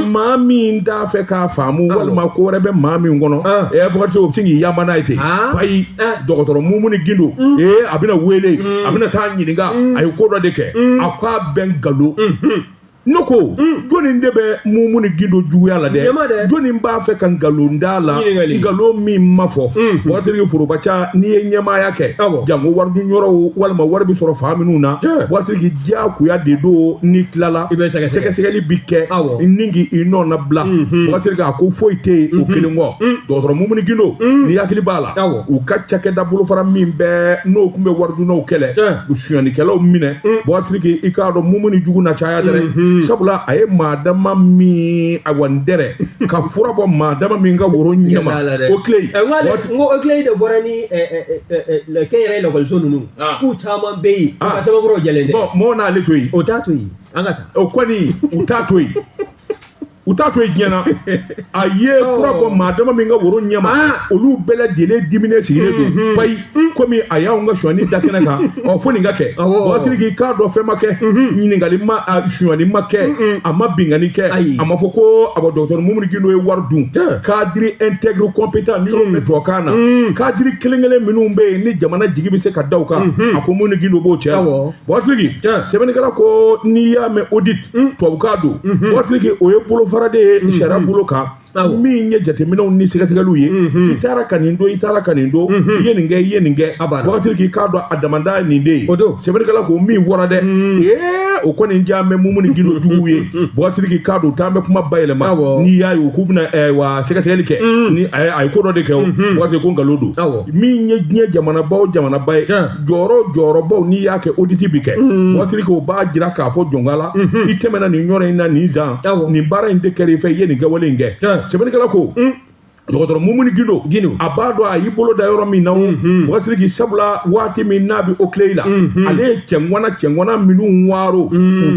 maa min t'a fɛ k'a faamu walima ko wɛrɛ bɛ maa min kɔnɔ Ah. ɛ wagasiri o bɛ se k'i yaman n'a ye ten Ah. ayi Ah. dɔgɔtɔrɔ mumuni gindo ee a bɛna wele a bɛna taa ɲininka a ye ko dɔ de kɛ a k'a bɛɛ nkalon ne ko hmm. jɔnni de bɛ mumuni gindo juguya la dɛ jɔnni b'a fɛ ka nkalon da a la nkalon min ma fɔ hmm. wasiriki foroba ca n'i ye ɲɛmaaya kɛ janko waridun yɔrɔw walima wari bɛ sɔrɔ fan minnu na wasiriki diyagoya de don n'i tilala sɛgɛsɛgɛli bi kɛ ni k'i i nɔnabila hmm, wasiriki a ko foyi tɛ yen o kelen kɔ dɔgɔtɔrɔ mumuni gindo n'i hakili b'a la u ka cakɛda bolofara min bɛ n'o tun bɛ waridunnaw kɛlɛ u sonyɛnikɛlaw minɛ mm. wasiriki i k'a dɔn mumuni jugu na caya dɛrɛ mm-hmm. sabula a ye maa dama min awa n dɛrɛ ka fura bɔ maa dama min ka woro ɲɛma OCLEI n ko OCLEI de bɔra ni kɛnyɛrɛye lakɔliso ninnu ah. k'u caman bɛ yen u ah. ka sɛbɛnfuraw jɛlen tɛ mɔgɔ n'ale to yen o t'a to yen an ka taa o kɔni u t'a to yen u t'a to yen diɲɛ na a ye fura bɔ maa dama min ka woro ɲɛma ah. olu bɛɛ lajɛlen diminen sigilen don mm-hmm. payi mm-hmm. komi a y'anw ka sonyani da kɛnɛ kan ɔ fo nin ka kɛ wasiriki k'a dɔn fɛn ma kɛ mm-hmm. ɲininkali ma sonyani ma kɛ a ma binkanni kɛ a ma fɔ ko a bɔ dɔgɔtɔrɔ mumuni gindo ye wari dun cadre intègre compétent nin yɔrɔ bɛ tubabukan na cadre kelen kelen minnu bɛ yen ni jamana jigi bɛ se ka da u kan a ko mumuni gindo b'o cɛ Wasiriki sɛbɛnnikɛla ko n'i y'a mɛn oditi tubabukan don wasiriki o ye bolofara de ye sariya bolo kan min ye jateminɛw ni sɛgɛsɛgɛliw ye i taara ka nin don i taara ka nin don i ye nin kɛ i ye nin kɛ wasiriki k'a dɔn a damada nin de o don sɛbɛnnikɛla ko min fɔra dɛ ee o kɔni diya bɛ mumuni gindo juguw ye wasiriki k'a dɔn an bɛ kuma bayɛlɛma n'i y'a ye k'u bɛna sɛgɛsɛgɛli kɛ a ye ko dɔ de kɛ wasiriki ko nkalon don min ye diɲɛ jamanaba o jamanaba ye jɔyɔrɔ jɔyɔrɔbaw n'i y'a kɛ oditi bi kɛ wasiriki o b'a jira k'a fɔ jɔnkala i tɛmɛna nin yɔrɔ in na nin san nin baara in de kɛra i fɛ i ye nin kɛwale in kɛ sɛbɛnnikɛla ko dɔgɔtɔrɔ mumuni gindo a b'a dɔn a y'i bolo da yɔrɔ min na wasiriki sabula waati min n'a bɛ OCLEI la ale ye cɛŋana cɛŋana minnu waro u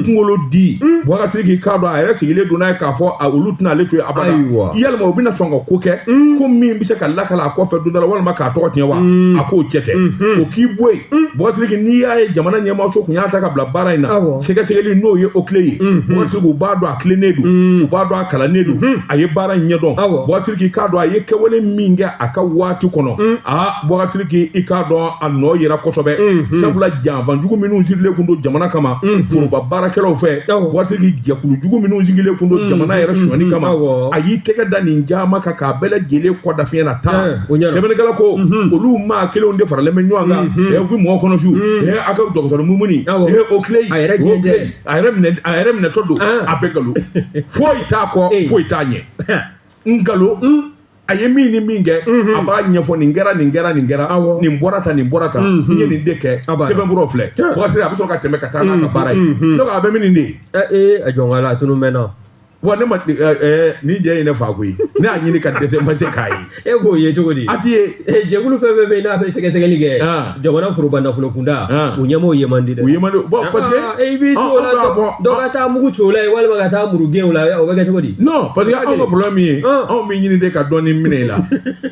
kunkolo di wasiriki k'a dɔn a yɛrɛ sigilen don n'a ye k'a fɔ a olu tɛna ale to yen abada walima u bɛna sɔn ka ko kɛ ko min bɛ se ka lakala a kɔfɛ don dɔ la walima ka a tɔgɔ tiɲɛ wa a k'o cɛ tɛ o k'i bɔ yen bɔsiliki n'i y'a ye jamana ɲɛmaaso kun y'a ta ka bila baara in na sɛgɛsɛgɛli n'o ye OCLEI ye bɔsiliki u b'a dɔn a tilennen don u b'a dɔn a kalannen don a ye baara in ɲɛdɔn bɔsiliki k'a dɔn a ye kɛwale min kɛ a ka waati kɔnɔ a bɔsiliki i k'a dɔn a nɔ yera kosɛbɛ sabula janfan jugu minnu sigilen kun don jamana kama foroba baarakɛlaw fɛ bɔsiliki jɛkulu jugu minnu sigilen kun don jamana yɛrɛ sonyani kama a y'i tɛgɛ da nin caman kan k'a bɛɛ lajɛlen kɔ da fiɲɛ na tan O ɲɛna. sɛbɛnnikɛla ko olu maa kelenw de faralen bɛ ɲɔgɔn kan ɛ u bɛ mɔgɔ kɔnɔ su ɛ a ka docteur mumuni Awɔ. ɛ OCLEI a yɛrɛ minɛtɔ don An. a bɛɛ nkalon foyi t'a kɔ Ee. foyi t'a ɲɛ nkalon a ye min ni min kɛ a b'a ɲɛfɔ nin kɛra nin kɛra nin kɛra Awɔ. nin bɔra tan nin bɔra tan n ye nin de kɛ A b'a la. sɛbɛnfuraw filɛ Tiɲɛ. wakasi a bɛ sɔrɔ ka tɛmɛ ka taa n'a ka baara ye donc a bɛ min nin de ye Ɛ ee a jɔn ka la a tunun maintenant wa ne ma eh, eh, nin jɛ ye ne fa koyi ne y'a ɲini ka dɛsɛ n ma se k'a ye e k'o ye cogo di a ti ye eh, jɛkulu fɛn fɛn bɛ yen n'a bɛ sɛgɛsɛgɛli kɛ ah. jamana foroba nafolo kunda ah. u ɲɛmɔgɔw ye man di dɛ u ye man di bon parce que ah, i b'i to o la dɔ ka taa mugu ci o la walima ka taa muru gɛn o la o bɛ kɛ cogo di non parce que anw ka problème ye anw b'i ɲini de ka dɔɔni minɛ i la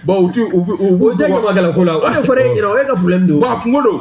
bon u ti u u o tɛ ɲamakala ko la o de fɔra e ɲɛna o y'i ka problème de ye wa kunko don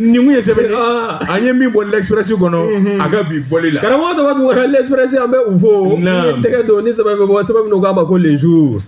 nin kun ye sɛbɛnni ah. an ye min bɔ l'express kɔnɔ mhm. a ka bi bɔli la karamɔgɔ tɔgɔ tun kɔrɔ l'express an bɛ u fo ni tɛgɛ don ni sɛbɛn bɛ bɔ sɛbɛn min k'a ma ko les jours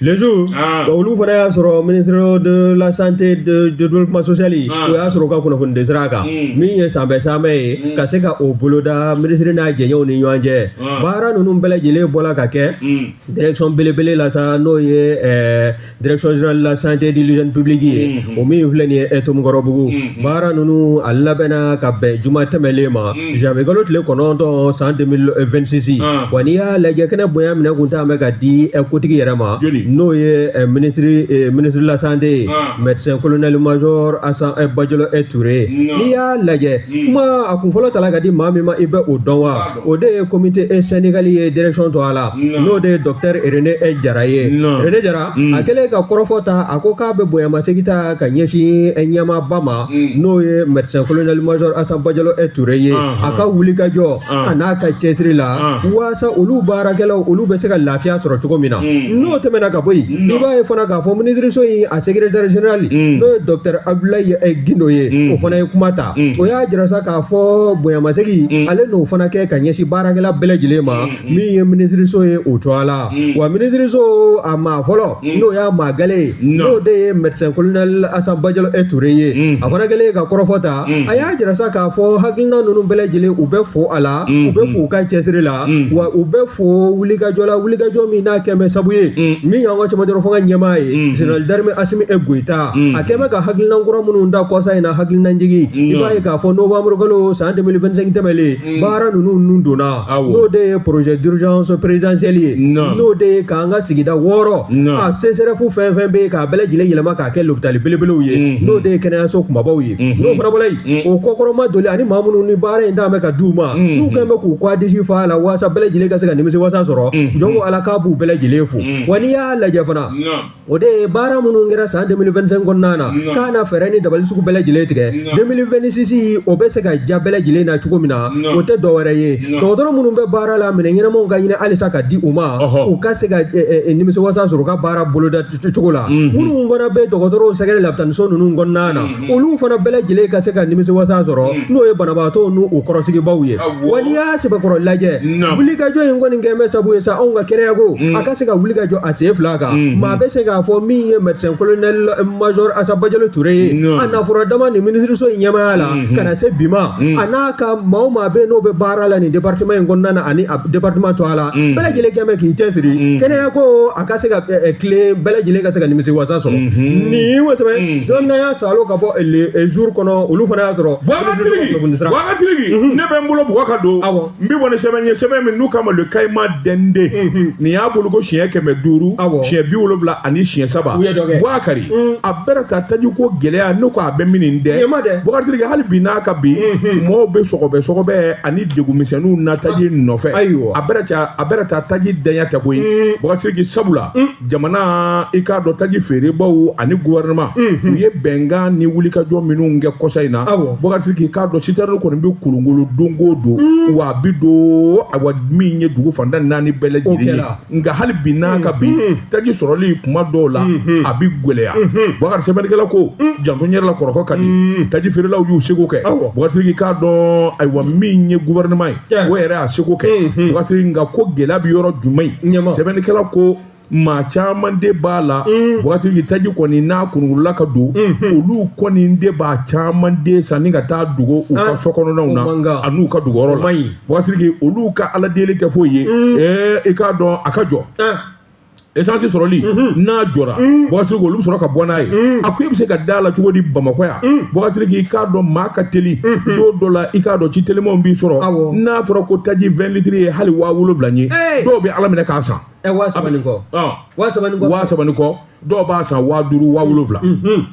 les jours ah. wa olu fana y'a sɔrɔ ministère de la santé et du développement social ah. o y'a sɔrɔ u ka kunnafoni di sira kan mm. min ye sanbɛ sanbɛ ye mm. ka se ka o boloda minisiri n'a jɛɲɔgɔnw ni ɲɔgɔn cɛ baara ninnu bɛɛ lajɛlen bɔra ka kɛ mm. direction belebele la sa n'o ye ɛɛ eh, direction générale de la santé et de l'hygiène publique ye mm-hmm. o min filɛ nin ye eh, ntomikɔrɔbugu mm-hmm. baara ninnu a labɛnna ka bɛn juma tɛmɛlen ma mm-hmm. janvier kalo tile kɔnɔntɔn san 2026 ah. wa n'i y'a lajɛ kɛnɛ bonya minɛ kun t'an bɛ ka di eh, kotigi yɛrɛ ma n'o ye eh, ministre de la santé ye ah. médecin colonel major asan bajalo ture n'i y'a lajɛ mm. kuma a kun fɔlɔ tala ka di maa min ma i bɛ o dɔn wa ah. o de ye comité e syndical ye direction tɔgɔ la n'o de ye docteur rene e jara ye rene jara a kɛlen ka kɔrɔfɔ ta a ko k'a bɛ bonyamasegin ta ka ɲɛsin e ɲɛmaaba ma n'o ye médecin colonel major asan bajalo e toure ye a ka wulikajɔ a n'a ka cɛsiri la walasasa olu baarakɛlaw olu bɛ se ka lafiya sɔrɔ cogo min na n'o tɛmɛna ka bɔ yen i b'a ye fana k'a fɔ minisiriso in a secrétaire général n'o ye docteur abdoulaye e gindo ye o fana ye kuma ta o y'a jira k'a fɔ bonyamasegin mm. ale n'o fana kɛ ka ɲɛsin baarakɛla bɛɛ lajɛlen ma mm, mm. min ye minisiriso ye o tɔgɔ la wa minisiriso a maa fɔlɔ n'o y'a maa gale ye n'o de ye médecin colonel Assa Badiallo e Touré ye a fana kɛlen ka kɔrɔfɔ ta a y'a jira sa k'a fɔ hakilina ninnu bɛɛ lajɛlen u bɛ fo a la u bɛ fo u ka cɛsiri la wa u bɛ fo wulikajɔ la wulikajɔ min n'a kɛ bɛ sabu ye min y'an ka cɛmancɛrɔ fanga ɲɛmaa ye général d'armée Assimi e Goïta a kɛ bɛ ka hakilinan kura minnu da kɔsa in na hakilinajigin i b'a ye k'a fɔ novembre kalo san 2025 tɛmɛlen baara ninnu nun donna Awɔ. n'o de ye projet d'urgence présidentielle ye Naam. n'o de ye k'an ka sigida wɔɔrɔ Naam. a CSRF fɛn fɛn bɛ yen k'a bɛɛ lajɛlen yɛlɛma k'a kɛ lopitali belebelew ye Mhm. n'o de ye kɛnɛyaso kumabaw ye Mhm. n'o fana bɔra yen Mhm. o kɔkɔrɔmadoli ani maa minnu ni baara in dan bɛ ka d'u ma Mhm. n'u kɛn bɛ k'u kɔ disi fa a la waasa bɛɛ lajɛlen ka se ka nimisi wasa sɔrɔ Mhm. jɔn ko ala k'a b'u bɛɛ lajɛlen fo Mhm. wa n'i y'a lajɛ fana Naam. o de ye baara minnu kɛra san 2025 kɔnɔna na k'a na fɛɛrɛ ni dabali sugu bɛɛ lajɛlen tigɛ 2026 o bɛ se ka ja bɛɛ lajɛlen na cogo min na o tɛ dɔwɛrɛ ye dɔgɔtɔrɔ minnu bɛ baara la minɛn ɲɛnamaw ka ɲini halisa ka di u ma u ka se ka nimisiwasa sɔrɔ u ka baara boloda cogo la minnu fana bɛ dɔgɔtɔrɔw sɛgɛrɛ labitaniso ninnu kɔnɔna na olu fana bɛɛ lajɛlen ka se ka nimisiwasa sɔrɔ n'o ye banabaatɔw n'u kɔrɔsigibaaw ye wa n'i y'a sɛbɛkɔrɔ lajɛ wulikajɔ in kɔni kɛ bɛ sabu ye sa anw ka kɛnɛyako a ka se ka wuli ka jɔ a sen fila kan maa bɛ se k'a fɔ min ye médecin colonel major Assa Badiallo Touré ye a na fɔlɔ dama nin minisiriso in ɲɛmaaya la ka na se bi ma a n'a ka maa o maa bɛ n'o bɛ baara la nin département in kɔnɔna na ani a département tɔgɔ la bɛɛ lajɛlen kɛ bɛ k'i cɛsiri kɛnɛyako a ka se ka ɛ, ɛ, tilen bɛɛ lajɛlen ka se ka nimisi wasa sɔrɔ Mhm. nin o sɛbɛn Mhm. don min na y'a salo ka bɔ le- ɛ, jour kɔnɔ olu fana y'a sɔrɔ Boubacar Sidiki, kunnafoni sira. Boubacar Sidiki, ne bɛ n bolo bugɔ ka don Awɔ. n bɛ bɔ ni sɛbɛn ye sɛbɛn min n'u k'a ma Le Caïman d'Indé Mhm. nin y'a bɔliko siɲɛ kɛmɛ duuru Awɔ. siɲɛ bi wolonwula ani siɲɛ saba U ye dɔ kɛ. Boubacar Mhm. a bɛrɛ ta taji ko gɛlɛya ne ko a bɛ min nin dɛ Ɲɛma dɛ. Boubacar Sidiki hali bi n'a ka bi Mhm. mɔɔw bɛ sɔgɔbɛ sɔgɔbɛ ani degunmisɛnninw na taji ah, nɔfɛ ayiwa a bɛrɛ ta a bɛrɛ ta taji ntanya tɛ koyi mm. Boubacar Sidiki sabula mm. jamana i k'a dɔn taji feerebaaw ani gouvernement mm-hmm. u ye bɛnkan ni wulikajɔ minnu kɛ kɔsa in na Boubacar Sidiki k'a dɔn citerne kɔni bɛ kolongolo don o don mm. wa a bi don awa min ye dugu fanda naani bɛɛ lajɛlen ye nka hali bi n'a ka bi taji sɔrɔli kuma dɔw la a bɛ gɛlɛya Boubacar sɛbɛnnikɛla ko janto yɛrɛ la kɔrɔkɔ ka di taji feerelaw y'u seko kɛ Boubacar Sidiki k'a dɔn ayiwa min ye gouvernement ye o yɛrɛ y'a seko kɛ Boubacar nka ko gɛlɛya bɛ yɔrɔ jumɛn ye sɛbɛnnikɛla ko maa caman de b'a la Boubacar Sidiki taji kɔni n'a kolongolola ka don olu kɔni de b'a caman de sanni ka taa dogo u ka so kɔnɔnaw na an'u ka dogo yɔrɔ la bɔkasiriki olu ka ala deli tɛ foyi ye ɛɛ i k'a dɔn a ka jɔ esansi sɔrɔli n'a jɔra bɔkasiriki olu bɛ sɔrɔ ka bɔ n'a ye a ko i bɛ se ka da la cogo di bamakɔ yan bɔkasiriki i k'a dɔn maa ka teli don dɔ la i k'a dɔn ci telimanw b'i sɔrɔ Awɔ. n'a fɔra ko taji vingt litres ye hali waa wolonwula ye Ee! dɔw bɛ ala minɛ k'a san Ɛ waa saba ni kɔ ɔn waa saba ni kɔ waa saba ni kɔ dɔw b'a san waa duuru waa wolonwula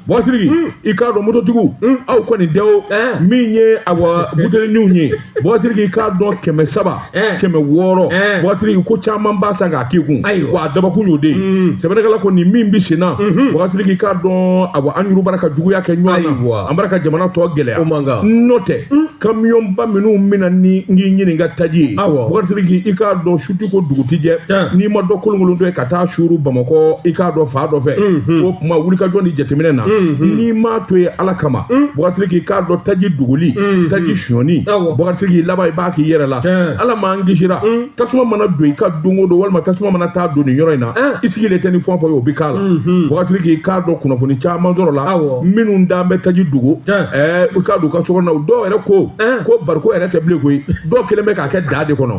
bɔkasiriki i k'a dɔn mototigiw aw kɔni dɛ o min ye awa buteliniw ye bɔkasiriki i k'a dɔn kɛmɛ saba kɛmɛ wɔɔrɔ bɔkasiriki ko caman b'a san k'a k'i kun wa a dabɔkun y'o de ye sɛbɛnnikɛla ko nin min bɛ sen na bɔkasiriki i k'a dɔn awa an yɛrɛw bara ka juguya kɛ ɲɔgɔn na an bara ka jamana tɔ gɛlɛya n'o tɛ kamiyɔnba minnu bɛ na ni n k'i ɲininka taji ye bɔkasiriki i k'a dɔn su tɛ ko dugu tɛ jɛ n'i ma dɔ kolonkolontɔ ye ka ka taa suuru bamakɔ i k'a dɔn fan dɔ fɛ o tuma wulikajɔ ni jateminɛ na n'i m'a to ye ala kama bɔkasiriki i k'a dɔn taji dogoli taji sonyani bɔkasiriki laban i b'a k'i yɛrɛ la ala m'an kisira tasuma mana don i ka don o don walima tasuma mana taa don nin yɔrɔ in na i sigilen tɛ ni fɛn o fɛn ye o bɛ k'a la bɔkasiriki i k'a dɔn kunnafoni caman sɔrɔla minnu dan bɛ taji dogo i k'a dɔn u ka so kɔnɔ dɔw yɛrɛ ko ko bariko yɛrɛ tɛ bilen koyi dɔw kɛlen bɛ k'a kɛ daga de kɔnɔ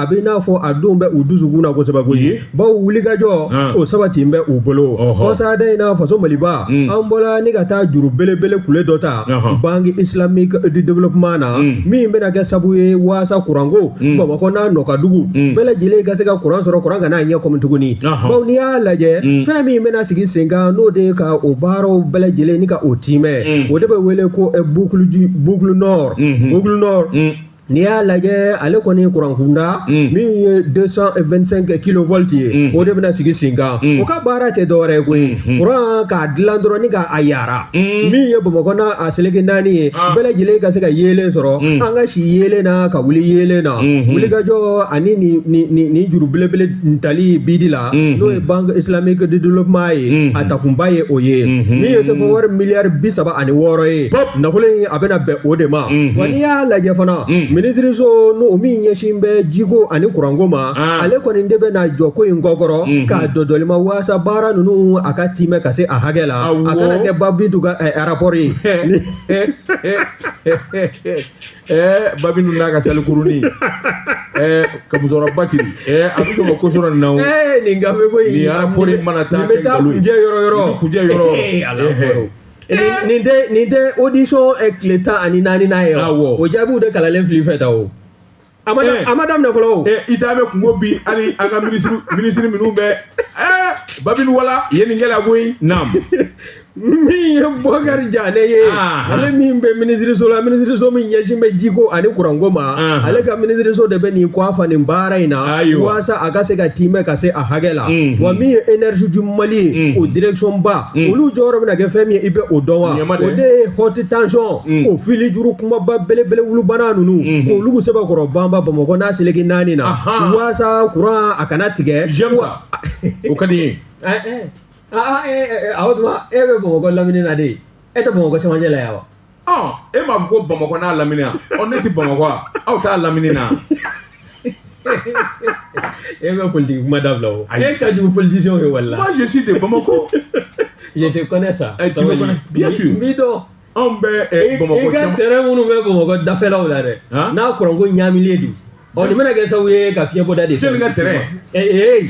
a bɛ n'a fɔ a don bɛ u dusukun na kosɛbɛ koyi Ye. bawo wulikajɔ Hɔn. o sabati bɛ u bolo Ɔhɔ. kɔsada in na faso maliba Mm. an bɔra ni ka taa juru belebele kule dɔ ta Ɔhɔ. banque islamique du développement na Mm. min bɛna kɛ sabu ye waasa kuranko Mm. bamakɔ n'a nɔkadugu Mm. bɛɛ lajɛlen ka se ka kuran sɔrɔ kuran kana a ɲɛ kɔmi tuguni Ɔhɔ. bawo n'i y'a lajɛ Mm. fɛn min bɛna sigi sen kan n'o de ye ka o baaraw bɛɛ lajɛlen ni ka o tiimɛ Mm. o de bɛ wele ko eh, boucle du- boucle nord Mhm. boucle nord Mm. N'i y'a lajɛ ale kɔni ye kuran kunda min ye 225 kilovolt ye o de bɛna sigi sen kan o ka baara tɛ dɔwɛrɛ ye koyi kuran k'a dilan dɔrɔn ni k'a yaara min ye bamakɔ n'a a seleke naani ye bɛɛ lajɛlen ka se ka yeelen sɔrɔ an ka si yeelen na ka wuli yeelen na wulikajɔ ani nin juru belebele tali bidi la n'o ye banque islamique de développement ye a takunba ye o ye min ye sefa wari miliyari bi saba ani wɔɔrɔ ye nafolo in a bɛna bɛn o de ma wa n'i y'a lajɛ fana minisiriso n'o min ɲɛsin bɛ jiko ani kuranko ma ale kɔni de bɛna jɔ ko in kɔkɔrɔ k'a dɔdɔli ma waasa baara ninnu a ka tiimɛ ka se a hakɛ la a kana kɛ babidu ka arapɔri ye babidu n'a ka salikurunin ka musokɔrɔba siri a bɛ sɔrɔ ko sɔrɔ nin na o nin gafe ko in nin arapɔri mana taa nin bɛ taa kunjɛ yɔrɔ yɔrɔ kunjɛ yɔrɔ ala Nin nin tɛ nin tɛ audition eh, tile tan ani naani n'a ye wa? Awɔ. o jaabiw de kalanlen fili fɛ ta o a ma da- Eh. a ma daminɛ fɔlɔ o ɛ isa bɛ kungo bi hali an ka minisiri minisiri minnu bɛ ɛ babili wala ye nin kɛla koyi naam min ye bɔkari jane ye Aha. ale min bɛ minisiriso la minisiriso min ɲɛsin bɛ jiko ani kuranko ma Aha. ale ka minisiriso de bɛ nin kɔ a fa nin baara in na Ayiwa. walasa a ka se ka tiimɛ ka se a hakɛ la Mm. wa min ye énergie du mali ye Mm. o direction ba Mm. olu jɔyɔrɔ bɛna kɛ fɛn min ye i bɛ o dɔn wa Ɲɛma dɛ. o de ye haute tension Mm. o fili juru kumaba belebele wulubana ninnu Mhm. k'olu sɛbɛkɔrɔ banba bamakɔ n'a seleke naani na Ahan. waasa kuran a kana tigɛ J'aime ça. Wa- o ka di n ye Eh, eh. Ah, ah, eh, eh, eh, o tuma e bɛ bamakɔ lamini na de e tɛ bamakɔ cɛmancɛ la yan wa e m'a fɔ ko bamakɔ n'a lamini wa ɔ ne tɛ bamakɔ aw t'a lamini na e bɛ politiki kuma dabila o e ka jugu politisiyɛnw ye wala moi je suis de bamako je te connais ça eh, tu me connais bien sûr n b'i dɔn anw bɛ eh, bamakɔ caman i ka terrain minnu bɛ bamakɔ dafɛlaw la dɛ n'a kuranko ɲaamilen don ɔ nin bɛna kɛ sababu ye ka fiɲɛbɔda de sɛbɛn ka terrain ee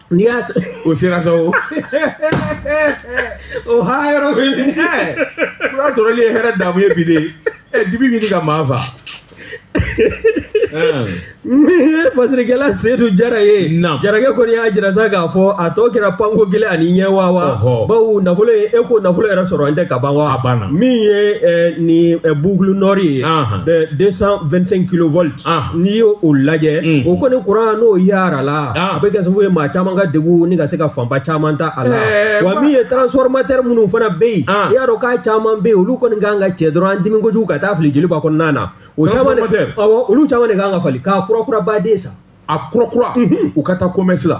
N'i y'a sɔrɔ o sera sa o o ha yɔrɔ bɛ min ɛ kuran sɔrɔli ye hɛrɛ damu ye bi de ɛ dibi bɛ ka maa fa fasirikɛla sedu jara ye jarakɛ kɔni y'a jira sa k'a fɔ a tɔ kɛra panko kelen ani ɲɛ wa wa bawo nafolo ye e ko nafolo yɛrɛ sɔrɔlen tɛ ka ban wa a banna min ye nin boucle nord ye deux cent vingt-cinq kilo Ah. n'i y'o o lajɛ Mm. o kɔni kuran n'o yara la Ah. a bɛ kɛ sababu ye maa caman ka degun ni ka se ka fanba caman ta a la Eh, wa wa- min ye transformateur minnu fana bɛ yen Ah. i y'a dɔn k'a caman bɛ yen olu kɔni kan ka cɛ dɔrɔn an dimi kojugu ka taa fili joliba kɔnɔna na o caman de Transformateur. awɔ olu caman de kan ka falen k'a kurakura baden san a kura kura u ka taa commerce la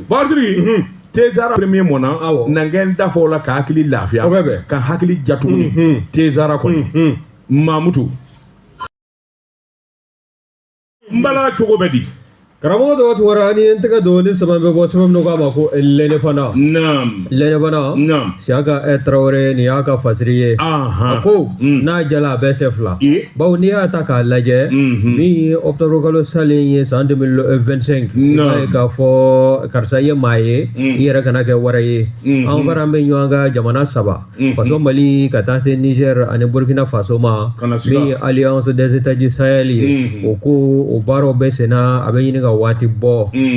Basiru tegara premier mɔn nangɛn da fɔ la ka hakili lafiya ka hakili ja tuguni tegara kɔni mamutu n bala cogo bɛ di karamɔgɔ tɔgɔ tɔgɔ n ye n tɛgɛ don ni sɛbɛn bɛ bɔ sɛbɛn min k'a ma ko lɛnɛ fana Lɛnɛ fana siyaka ɛ tarawele nin y'a ka fasiri ye a ko n'a jala a bɛ sɛ fila bawo n'i y'a ta k'a lajɛ min ye octobre kalo salen ye san deux mille vingt-cinq i b'a ye k'a fɔ karisa ye maa ye i yɛrɛ kana kɛ wara ye an faralen bɛ ɲɔgɔn kan jamana saba faso mali ka taa se nizɛri ani burukina faso ma min ye alliance des états du sahel ye o ko o baaraw bɛ senna a bɛ ɲini ka waati bɔ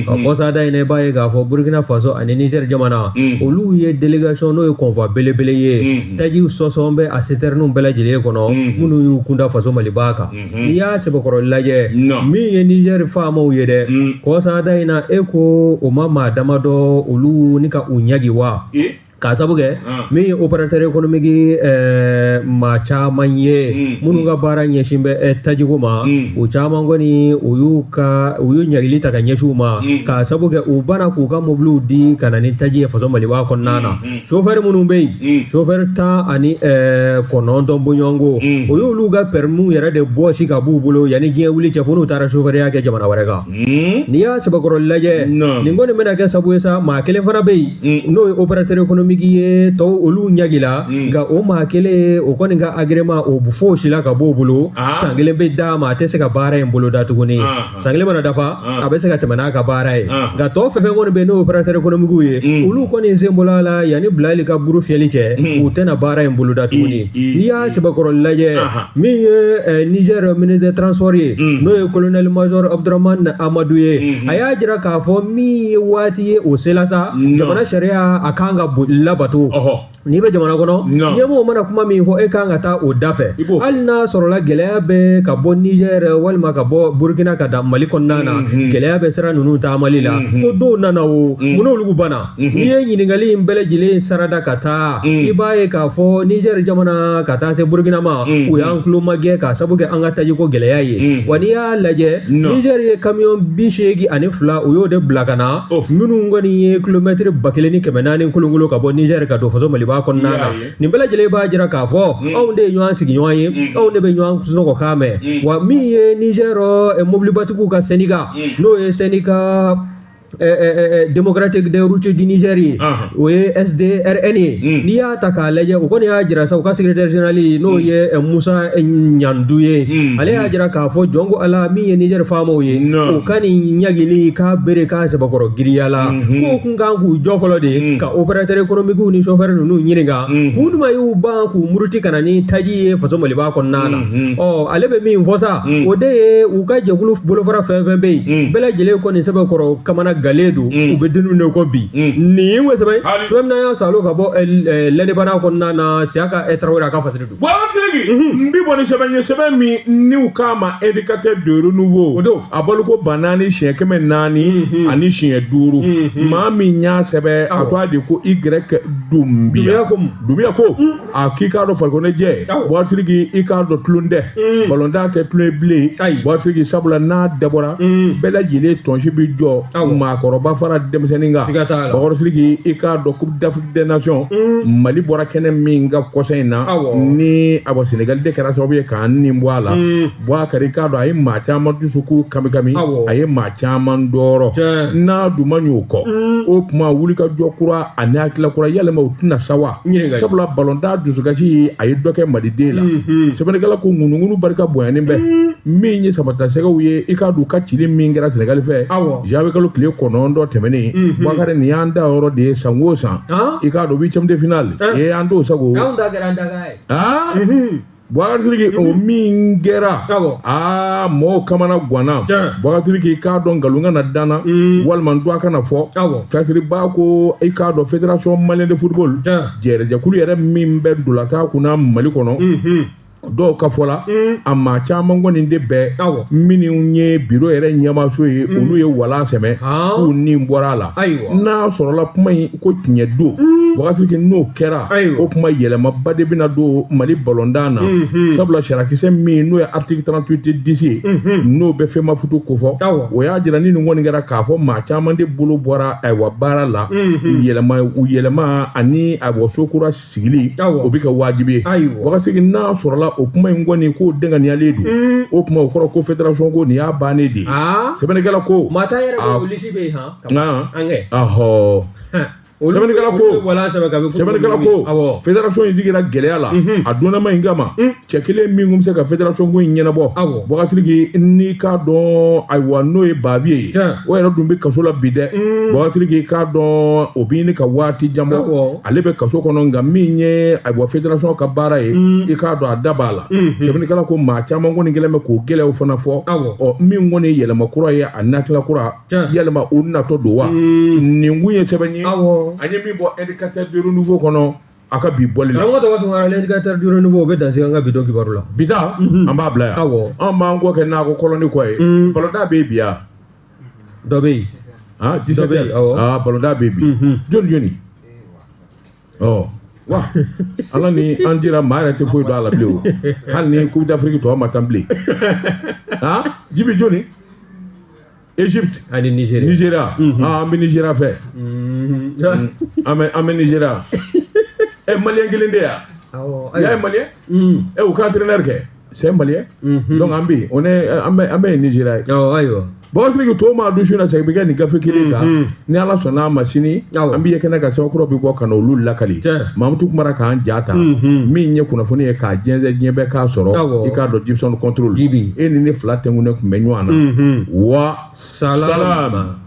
ka kɔsada in i b'a ye k'a fɔ burukina faso ani nizɛri jamana olu ye délégation n'o ye convoi belebele ye tajiw sɔsɔlen bɛ a sitɛriniw bɛɛ lajɛlen kɔnɔ minnu y'u kunda faso maliba kan n'i y'a sɛbɛkɔrɔ lajɛ min ye nizɛri faamaw ye dɛ kɔsada in na e ko o ma maa damadɔ olu ni ka u ɲangi wa k'a sabu kɛ ah. min ye opérateur économique eh, maa caman ye hmm. minnu ka baara ɲɛsin bɛ eh, tajiko ma hmm. o caman kɔni u y'u ka u y'u ɲagili ta ka ɲɛsin u ma hmm. k'a sabu kɛ u banna k'u ka mobiliw di ka na ni taji ye faso maliba kɔnɔna na chauffeur minnu bɛ yen chauffeur tan ani eh, kɔnɔntɔn bɔɲɔgɔnko o y'olu ka permis yɛrɛ de bɔsi ka b'u bolo yanni diɲɛ wuli cɛ fo n'u taara chauffeurya kɛ jamana wɛrɛ kan Hmm? N'i y'a sɛbɛkɔrɔ lajɛ nin kɔni bɛna kɛ sabu ye sa maa kelen fana bɛ yen hmm. n'o ye opérateur économique ye tɔw olu ɲagila hmm. nka o maa kelen o kɔni ka agrément o fosila ka b'o bolo ah. san kelen bɛ d'a ma a tɛ se ka baara in bolo da tuguni ah, ah. san kelen mana dafa a bɛ se ka tɛmɛ n'a ka baara ye nka tɔw fɛn fɛn kɔni bɛ yen n'o opérateur économique ye olu kɔni sen bɔla a la yanni Bilali ka buru fiyɛli cɛ u tɛna baara in bolo da tuguni. n'i y'a sɛbɛkɔrɔ lajɛ min ye niger ministre transport ye n'o ye colonel major abdourahamane amadou ye a y'a jira k'a fɔ min ye waati ye o sela sa jamana sariya a kan ka labato n'i bɛ jamana kɔnɔ ɲɛmɔgɔ mana kuma min fɔ e kan ka taa o da fɛ hali n'a sɔrɔla gɛlɛya bɛ ka bɔ niger walima ka bɔ burkina ka da mali kɔnɔna na gɛlɛya bɛ sira ninnu taamali la ko dɔw nana o munna olu banna Mhm. N'i ye ɲininkali in bɛɛ lajɛlen sarada ka taa mhm. i b'a ye k'a fɔ Niger jamana ka taa se Burkina ma mhm. u y'an tulo magɛn k'a sabu kɛ an ka tajiko gɛlɛya ye wa n'i y'a lajɛ Niger ye kamiyɔn bi seegin ani fila u y'o de bila ka na minnu kɔni ye kilomɛtiri ba kelen ni kɛmɛ naani kolonkolon ka bɔ Niger ka don faso Maliba kɔnɔna na nin bɛɛ lajɛlen b'a jira k'a fɔ anw de ye ɲɔgɔn sigiɲɔgɔn ye anw de bɛ ɲɔgɔn sunɔgɔkan mɛn wa min ye Niger eh, mobilibatigiw ka syndicat n'o ye syndicat Eh, eh, eh, démocratique de route du niger ye o ye sdrn ye hmm. n'i y'a ta k'a lajɛ o kɔni y'a jira sa u ka secrétaire général n'o hmm. ye musa ɲandu ye hmm. ale y'a jira k'a fɔ jɔn ko ala min ye niger faamaw ye o ka nin ɲagili k'a bere k'a sɛbɛkɔrɔ giriyala k'u kun kan k'u jɔ fɔlɔ de ka opérateur économiquew ni chauffeur ninnu ɲininka kun duma y'u ban k'u muruti ka na ni taji ye faso maliba kɔnɔna na ɔ ale bɛ min fɔ sa o de ye u ka jɛkulu bolofara fɛn fɛn bɛ yen bɛɛ lajɛlen kɔni sɛbɛkɔrɔ kamanagalen don u bɛ don min na ko bi nin ye ko sɛbɛn sɛbɛn min y'an sɔrɔ ka bɔ L'Indépendant kɔnɔna na siyaka tarawele a ka fasiri don. n bɛ bɔ ni sɛbɛn ye sɛbɛn min n'u k'a ma Indicateur du Renouveau a bɔliko ba naani siɲɛ kɛmɛ naani ani siɲɛ duuru maa min y'a sɛbɛn a tɔgɔ de ko Y dunbiya ko. a k'i k'a dɔn farikoloɲɛjɛ bɔsiriki i k'a dɔn tulon tɛ mm. balontan tɛ tulon ye bilen bɔsiriki sabula n'a dabɔra mm. bɛɛ lajɛlen tɔnsi bɛ jɔ maakɔrɔba fara denmisɛnnin kan bakari siriki i k'a dɔn coupe d'afrique des nations mm. mali bɔra kɛnɛ min kan kɔsa in na ni ayiwa senegali de kɛra sababu ye k'an ni bɔ a la bwakari i k'a dɔn a ye maa caman dusukun kamikami a ye maa caman tɔɔrɔ n'a dun ma ɲ'o kɔ o tuma wulikajɔ kura ani hakilila kura yalima o tɛ na sa wa sabula balontan dusukasi ye a ye dɔ kɛ maliden la mhm. sɛbɛnnikɛla ko ŋunuŋunu barika bonyanen bɛ mhm. min ye samatasɛgɛw ye i k'a dɔn u ka cili min kɛra sɛnɛgali fɛ janvier kalo tile kɔnɔntɔn tɛmɛnen mhm. bakari nin y'an danyɔrɔ de ye san o san i k'a dɔn huitième de finale ye an t'o sagon Bɔgasiriki o min kɛra aa mɔgɔw kamana ganna Bɔgasiriki k'a dɔn nkalon kana da n na walima n dun a kana fɔ Fasiriba ko i k'a dɔn fédération malienne de football yɛrɛ jɛkulu yɛrɛ min bɛ ntolatan kunna mali kɔnɔ dɔw ka fɔ la a maa caman kɔni de bɛɛ aw minnu ye biro yɛrɛ ɲɛmaaso ye olu ye wala sɛmɛ k'u ni bɔra a la ayiwa n'a sɔrɔla kuma in ko tiɲɛ don mm. Bɔgasiriki n'o kɛra o kuma yɛlɛmaba de bɛna don mali balontan na mm-hmm. sabula sariyakisɛ min n'o ye article trente-huit dix ye mm-hmm. n'o bɛ Femafoot kofɔ o y'a jira ni nin kɔni kɛra k'a fɔ maa caman de bolo bɔra ayiwa baara la mm-hmm. yɛlɛma u yɛlɛma ani ayiwa so kura sigili o bɛ kɛ wajibi ye Bɔgasiriki n'a sɔrɔla o kuma in kɔni k'o dɛnkɛnɛyalen don mm. o kuma o kɔrɔ ko federation ko nin y'a bannen de ye ah. sɛbɛnnikɛla ko maa tan yɛrɛ bɛ o lisi bɛ yen han Nka an kɛ ahɔ sɛbɛnnikɛla ko wala sɛbɛn ka sɛbɛnnikɛla ko awɔ federation in sigira gɛlɛya la a donnama in kama cɛ kelen min kun bɛ se ka federation ko in ɲɛnabɔ awɔ Bɔgasiriki n'i k'a dɔn ayiwa n'o ye Bavieux ye o yɛrɛ dun bɛ kaso la bi dɛ Bɔgasiriki k'a dɔn o bɛ ɲini ka waati jan bɔ ale bɛ kaso kɔnɔ nka min ye ayiwa federation ka baara ye i k'a dɔn a da b'a la sɛbɛnnikɛla ko maa caman kɔni kɛlen bɛ k'o gɛlɛyaw fana fɔ awɔ ɔ min kɔni ye yɛlɛma kura ye ani hakilila kura yalima o natɔ don wa hmm. nin kun ye sɛbɛn ye an ye min bɔ indicateur du renouveau kɔnɔ a ka bi bɔli la karamɔgɔ tɔgɔ tun kɛra l'indicateur du renouveau o bɛ dan sigi an ka bi donkibaru la bi ta mhm. an b'a bila yan awɔ an b'an kɔ kɛ nakɔ kɔlɔnni kɔ ye hmm. balontan bɛ yen bi ya dɔ bɛ yen dɔ bɛ yen awɔ balontan bɛ yen bi jɔni jɔni ɔ wa ala ni an cira maa yɛrɛ tɛ foyi dɔn a la bilen o hali ni coupe d'afrique tɔ ma tan bilen han jibi jɔni egypte ani nigeria nigeria ah, an bɛ nigeria fɛ an bɛ an bɛ nigeria ɛ maliyɛn kelen de yan awɔ y'a ye maliyɛn ɛ u ka entraîneur kɛ c'est un malien mhm. donc an bɛ yen on est an bɛ an bɛ yen nizeriya ye awɔ ayiwa bɔsiriki to maa dusu na sa i bɛ kɛ nin gafe kelen kan mhm. ni ala sɔnna a ma sini an bɛ ye kɛnɛ kan sɛbɛn kura bɛ bɔ ka na olu lakali mamutu kamara k'an ja ta mhm. min ye kunnafoni ye k'a jɛnsɛn diɲɛ bɛɛ k'a sɔrɔ i k'a dɔn jibisɔn contrôle e ni ne fila tɛnkunnen tun bɛ ɲɔgɔn na wa salama.